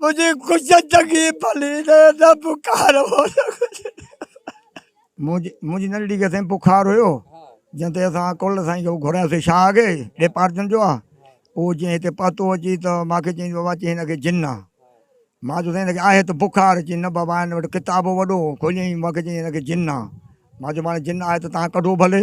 منهنجي خوش چڱي ڀلي نه بخار هو منهنجي ننڍڙي کي سائين بخار هيو جنهن تي اسان ڪل سائين کي گهراياسي شاهه اڳي ڊيپارٽمينٽ جو آ اهو جيئن هتي پهتو اچي ته ماکي چيائين بابا چي هن کي جن آ مان چيو سائين هن کي آهي ته بخار چي نه بابا هن وٽ ڪتاب وڏو کوليائين ماکي چيائين هن کي جن آ مان چيو ماڻي جن آهي ته تان ڪڍو ڀلي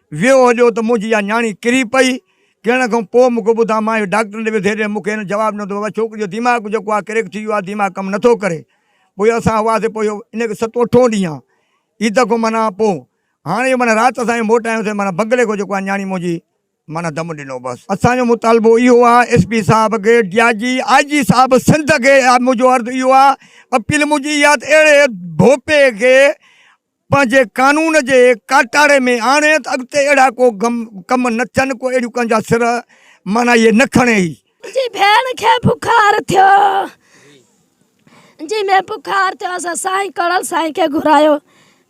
ويو هجو ته منهنجي اها نياڻي ڪري پئي. ڪرڻ کان پوء مون کي ٻڌاء. مان اهو ڊاڪٽرن ڏي ويٺي رهيم. مون کي هن جواب ڏنو ته بابا ڇوڪري جو ديماغ جيڪو آهي ڪريڪ ٿي ويو آهي. ديماغ ڪم نٿو ڪري. پوء اسان هئاسين. پوء اهو ان کي ستون اٺون ڏينهن آهي. عيد کان معنيٰ پوء هاڻي اهو معنيٰ رات اسان اهي موٽايوسين. معنيٰ بنگلي کان جيڪو آهي نياڻي منهنجي معنيٰ دم ڏنو بس. اسان جو مطالبو اهو آهي ايس پي صاحب کي، ڊي آء جي، آء جي صاحب سنڌ کي منهنجو عرض اهو آهي، اپيل منهنجي اها آهي ته اهڙي ڀوپي کي پنهنجي قانون جي ڪاٽاڙي ۾ آڻي ته اڳتي اهڙا ڪو ڪم نه ٿين، ڪو اهڙيون ڪن جا سر معنيٰ اهي نه کڻي هي. جي ڀيڻ کي بخار ٿيو جي ۾ بخار ٿيو اسان سائين ڪرڙ سائين کي گهرايو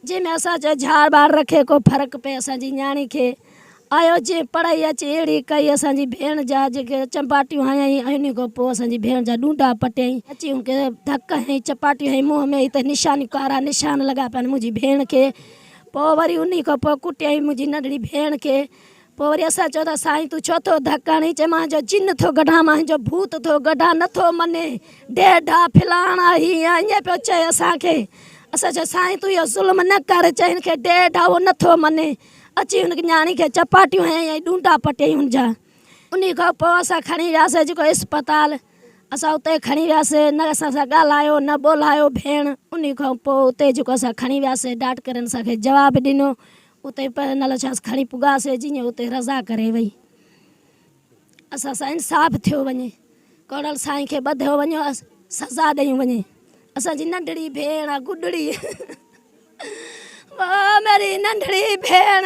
جي ۾ اسان چيو جھاڙ ٻاھر رکي ڪو فرق پئي اسان جي نياڻي کي. آيو جنهن پڙهائي اچي اهڙي ڪئي اسان جي ڀيڻ جا جيڪي چنباٽيون هنيائين ۽ انهي کان پوء اسان جي ڀيڻ جا ڏونڊا پٽيائين اچي ان کي ڌڪ هنئي چپاٽيون هنئي منهن ۾ هتي نشانيون ڪارا نشان لڳا پيا آهن منهنجي ڀيڻ کي پوء وري انهي کان پوء ڪٽيائين منهنجي ننڍڙي ڀيڻ کي پوء وري اسان چيو ته سائين تون ڇو ٿو ڌڪ هڻين چئي مان جو جن ٿو ڪڍان مان جو ڀوت ٿو ڪڍان نه ٿو مڃي ڊيڍا ڦلاڻا هي ائين پيو چئي اسان کي اسان چيو سائين تون اهو ظلم نه ڪر چئي هن کي ڊيڍا هو نه ٿو مڃي اچي هن نياڻي کي چپاٽيون هنيائين ۽ ڏونڊا پٽيائين هن جا. انهي کان پوء اسان کڻي وياسين جيڪو اسپتال. اسان اتي کڻي وياسين. نه اسان سان ڳالهايو نه ٻولهايو ڀيڻ. انهي کان پوء اتي جيڪو اسان کڻي وياسين ڊاڪٽرن اسان کي جواب ڏنو. اتي پهرين الشاس کڻي پڳاسين جيئن اتي رضا ڪري وئي. اسان سان انصاف ٿيو وڃي ڪوڙل سائين کي ٻڌيو وڃي سزا ڏيون وڃي اسان جي ننڍڙي ڀيڻ گڏڙي ميري ننڍڙي ڀيڻ